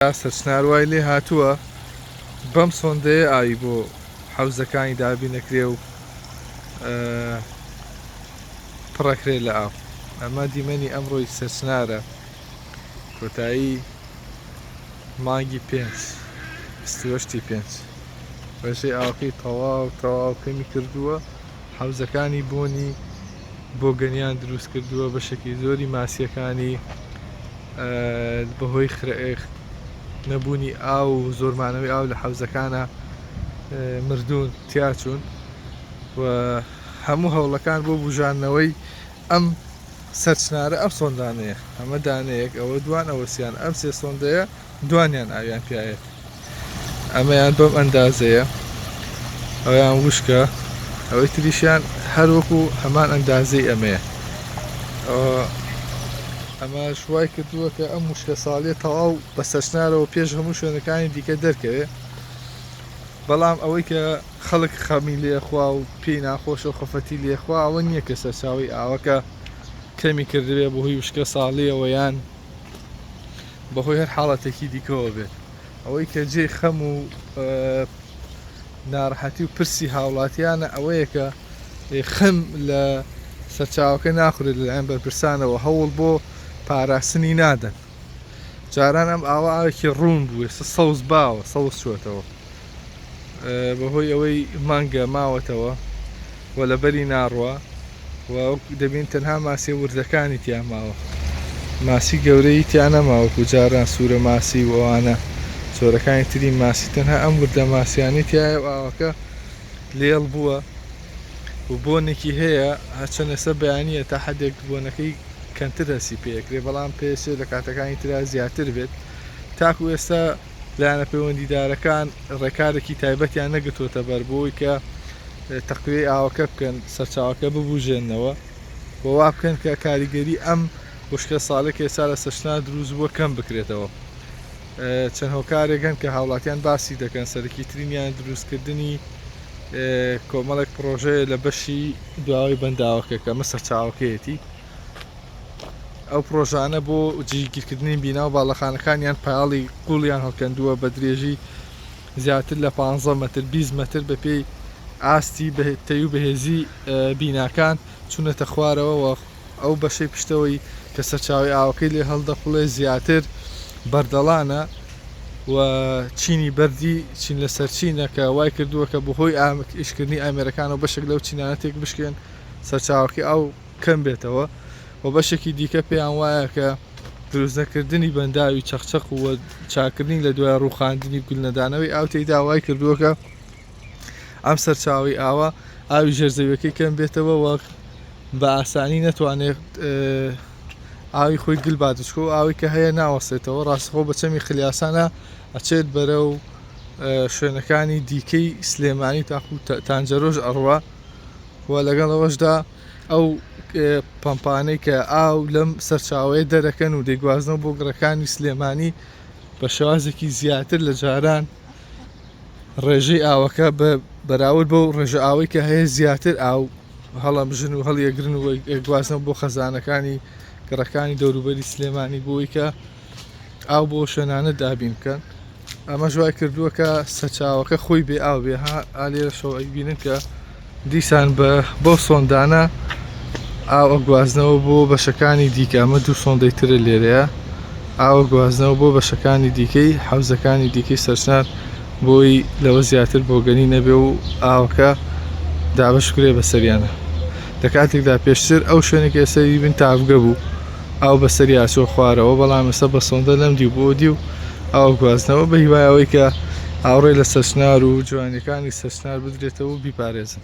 ناصر چنار وای لێ هاتووە بەم سۆندەیە ئاوی بۆ حەوزەکانی دابین ئەکرێ و پڕەکرێ لە ئاو ئەمە دیمەنی ئەمڕۆی سەرچنارە کۆتایی مانگی پێنج بیستوەشتی پێنج ڕێژەی ئاوەکەی تەواو تەواو کەمی کردووە حەوزەکانی بۆنی بۆگەنیان دروست کردووە بەشێکی زۆری ماسیەکانی بەهۆی خرئخت نەبوونی ئاو و زۆرمانەوەی ئاو لە حەوزەکانە مردوون تیاچوون و هەموو هەوڵەکان بۆ بژانەوەی ئەم سەرچنارە ئەم سۆندانەیە ئەمە دانەیەک ئەوە دوان ئەوەسییان ئەم سێ سۆندەیە دوانیان ئاویان پیاێت ئەمەیان بەم ئەندازەیە ئەویان وشکە ئەوەی تریشیان هەروەکو هەمان ئەندازەی ئەمەیە ئەمە شوای کردووە کە ئەم وشکە ساڵێ تەواو بە سەرچنارەوە پێش هەموو شوێنەکانی دیکە دەرکەوێت بەڵام ئەوەی کە خەڵک خەمی لێخوا و پێی ناخۆشە و خەفەتی لێخوا ئەوە نییە کە سەرچاوی ئاوەکە کەمی کردوێ بۆ هی وشکە ساڵیەوەیان بەهۆی هەر حاڵەتێکی دیکەوە بێت ئەوەی کە جێ خەم و ناڕحەتی و پرسی هاوڵاتیانە ئەوەیە کە خەم لە سەرچاوەکە ناخورێت لەلایەن بەرپرسانەوە هەوڵ بۆ پاراستنی نادەن جاران ئەم ئاوا ئاوێکی ڕوون بووێ سەوز باوە سەوز چوەتەوە بەهۆی ئەوەی مانگە ماوەتەوە و لەبەری ناڕوە و دەبین تەنها ماسیە وردەکانی تیا ماوە ماسی گەورەی تیانەما وەکو جاران سوورە ماسی و ئەوانە چۆرەکانی تری ماسی تەنها ئەم وردە ماسیانی تایە و ئاوەکە لێڵ بووە و بۆنێکی هەیە هەچەنەسە بەیانە تا حدێک بۆنەکەی کەمتر هەسی پێکرێ بەڵام پێسێ لە کاتەکانی تررا زیاتر بێت تاکو ئێستا لایەنە پەیوەندیدارەکان ڕێکارێکی تایبەتیان نەگرتووەتەبەر بۆی کە تەقویەی ئاوەکە بکەن سەرچاوەکە ببوژێنەوە و وا بکەن کە کاریگەری ئەم وشکە ساڵێک ئێستا لە سەشنا دروست بووە کەم بکرێتەوە چەند هۆکارێکن کە هاوڵاتیان باسی دەکەن سەرکی ترینیان دروستکردنی کۆمەڵێک پرۆژەیە لە بەشی دواوەی بەنداوەکە کە مە سەرچاوەکەیەتی ئەو پڕۆژانە بۆ جیگیرکردنی بینا و باڵەخانەکانیان پایاڵی قوڵیان هەڵکەندووە بە درێژی زیاتر لە 15 متر 20 متر بە پێی ئاستی تەی و بەهێزی بیناکان چونەتە خوارەوە و ئەو بەشەی پشتەوەی کە سەرچاوی ئاوەکەی لێ هەڵدەقڵێ زیاتر بەردەڵانە و چینی بەردی چین لە سەرچینەکە وای کردووە کە بەهۆی ئامک ئیشکردنی ئامێرەکان و بەشێک لەو چینانە تێک بشکێن سەرچاوەکە ئەو کەم بێتەوە و بەشێکی دیکە پێیان وایە کە دروستنەکردنی بەنداوی چەخچەق و چاکردنی لە دوای ڕووخاندنی گولنەدانەوەی ئاو تێیدا وای کردووەکە ئەم سەرچاوی ئاوە ئاوی ژێرزەویەکەی کەم بێتەوە وەک بە ئاسانی نەتوانێت ئاوی خۆی گل بادچکۆ و ئاوی کە هەیە ناوەستێتەوە ڕاستخۆ بە چەمی خلیاسانە ئەچێت بەرە و شوێنەکانی دیکەی سلێمانی تاخ و تانجەرۆژ ئەڕوە و لەگەڵەوەشدا ئەو پەمپانەی کە ئاو لەم سەرچاوەیە دەرەکەن و دەیگوازنەوە بۆ گڕەکانی سلێمانی بە شێوازێکی زیاتر لە جاران ڕێژەی ئاوەکە بە بەراورد بەو ڕێژە ئاوەی کە هەیە زیاتر ئاو هەڵم ژن و هەڵیەگرن و گوازنەوە بۆ خەزانەکانی گڕەکانی دەوروبەری سلێمانی بۆی کە ئاو بۆ شوێنانە دابین بکەن ئەمەش وای کردووە کە سەچاوەکە خۆی بێ ئاو بێ ها ئالێرە شەوەیبینن کە دیسان بە بەو سۆندانە ئاوە گوازنەوە بۆ بەشەکانی دیکە ئەمە دوو سۆندەی ترە لێرەیە ئاوە گوازنەوە بۆ بەشەکانی دیکەی حوزەکانی دیکەی سەرسنار بۆی لەوە زیاتر بۆگەنی نەبێ و ئاوەکە دابش کرێ بەسەریانە لە کاتێکدا پێشتر ئەو شوێنێکی ئەسەری بن تاافگە بوو ئاو بەسەری ئاچۆ خوارەوە بەڵام ئێستا بە سۆندە لەم دیو بۆ دیو ئاو گواستنەوە بە هیوای ئەوەی کە ئاوڕێ لە سەچنار و جوانیەکانی سەچنار بدرێتەوە و بیپارێزن.